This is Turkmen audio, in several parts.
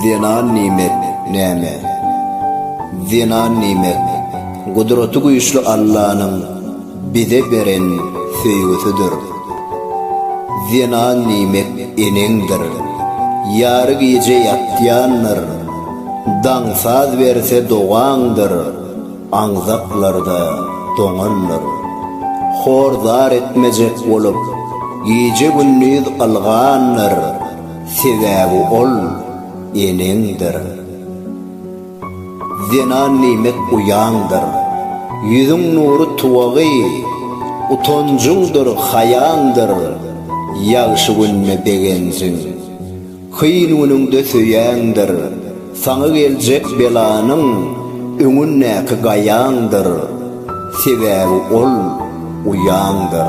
Zenan nimet, näme? Zenan nimet, Gudraty güýçli Allanyň bize beren söýgüsidir. Zenan nimet eneňdir. Ýary gije ýatýandyr. Daň saz berse dogaňdyr. Aňzaklarda doňandyr. Hor zar etmejek bolup, gije-gündiz ylgandyr. Sebäbi ol eneňdir. Zenan nimet uýaňdyr. Ýüzüň nury tuwagy, utanjyňdyr haýaňdyr. Ýagşy günde begenjiň, kyn günüňde söýäňdir. Saňa geljek belanyň, öňündäki gaýaňdyr. Sebäbi ol uýaňdyr.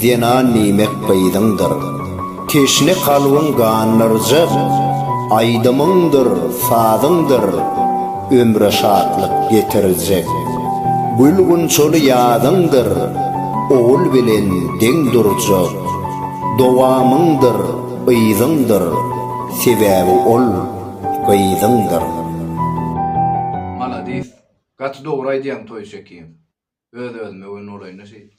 Zenan diýmek gyzyňdyr. Teşne kalbyň gandyrjak, Aýdymyňdyr, sazyňdyr, Ömre şatlyk getirjek. Gül-gunçaly ýazyňdyr, Ogul bilen deň durjak, Dowamyňdyr, yzyňdyr, Sebäbi ol gyzyňdyr. Maladis. Gaty dogry aýdýaň Toýy Şekiýew. Öz özüme we Nuraýna şeýdip.